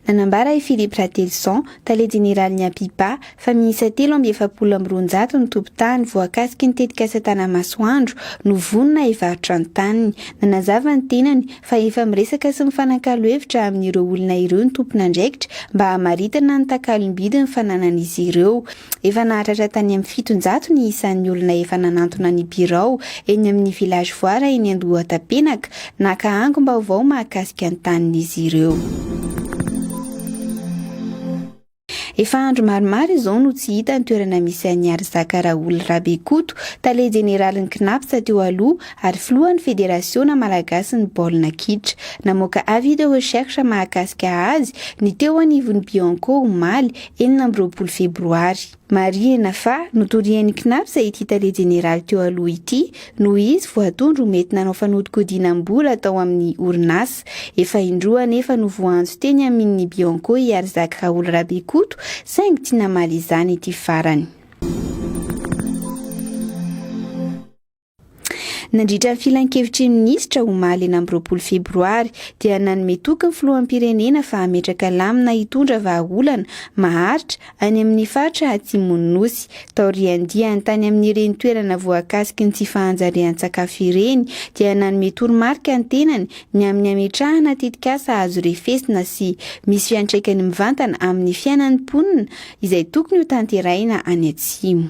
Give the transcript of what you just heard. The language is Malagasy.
Nanambara i Philippe Ratelison, tale jeneralin'ny APIPA, fa miisa telo amby efapolo amby roanjato ny tompon-tany voakasiky ny tetikasa Tanamasoandro no vonona hivarotra ny taniny. Nanazava ny tenany fa efa miresaka sy mifanakalo hevitra amin'ireo olona ireo ny tompon'andraikitra mba hamaritana ny takalom-bidiny fananan'izy ireo. Efa nahatratra tany amin'ny fitonjato ny isan'ny olona efa nanantona ny birao eny amin'ny Village Voara eny Andohatapenaka, naka angom-baovao mahakasika ny tanin'izy ireo. Efa andro maromaro izao no tsy hita ny toerana misy an'i Harizaka Raoul Rabekoto, tale jeneralin'ny CNAPS teo aloha ary filohan'ny Federasiona malagasin'ny baolina kitra. Namoaka avis de recherche mahakasika azy ny teo anivon'ny Bianco omaly, enina amby roapolo febroary. Marihina fa notorian'ny Cnaps ity tale jeneraly teo aloha ity noho izy voatondro ho mety nanao fanodikodinam-bola tao amin'ny orinasa. Efa indroa anefa no voaantso teny aminin'ny Bianco i Arzak Raoul Rabekoto saingy tsy namaly izany ity farany. Nandritra ny filankevitry ny minisitra omaly enina amby roapolo febroary dia nanome toky ny filoham-pirenena fa hametraka lamina hitondra vahaolana maharitra any amin'ny faritra atsimon'ny nosy taorian'ny diany tany amin'ireny toerana voakasiky ny tsy fahanjarian-tsakafo ireny dia nanome toromarika ny tenany ny amin'ny hametrahana tetikasa azo refesina sy misy fiantraikany mivantana amin'ny fiainan'ny mponina izay tokony ho tanterahina any atsimo.